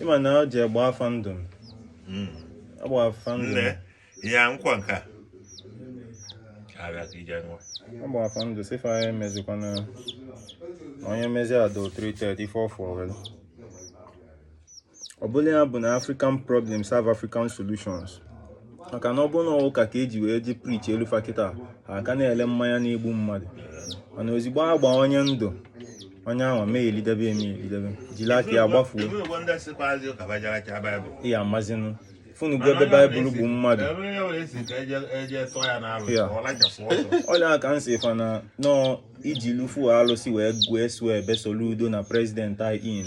ị ma na ọ ji agba fa ndụ m hmm. agba fa ndụ m ya nkwa nke a agba fa ndụ si fa ya emezikwana onye mezi a dọ three three for fuel ọ bụla ya bụ na African problems have African solutions maka na ọ bụrụ na ụka ka e ji wee ji preachelụ fa kịta ha ka na-ele mmanya na-egbu mmadụ mana ozigbo a gbaa onye ndụ onye ahụ mee elidebe eme elidebe jili aka ya gbafuo ya amazinụ funu gwa ebe Bible bụ mmadụ ọlụ aka m si fa na nọọ ijili ofu alụsị wee gwee swearbe Soludo na president in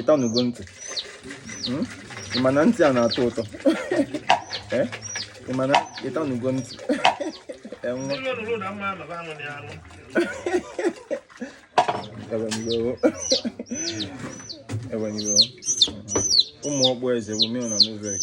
ịtanugo ntị hmm? ị ma na ntị a na-atọ ụtọ eh? ị ma na ịtanugo ntị enwe ewenigo ụmụ ọkpụ eze bụ mil na novek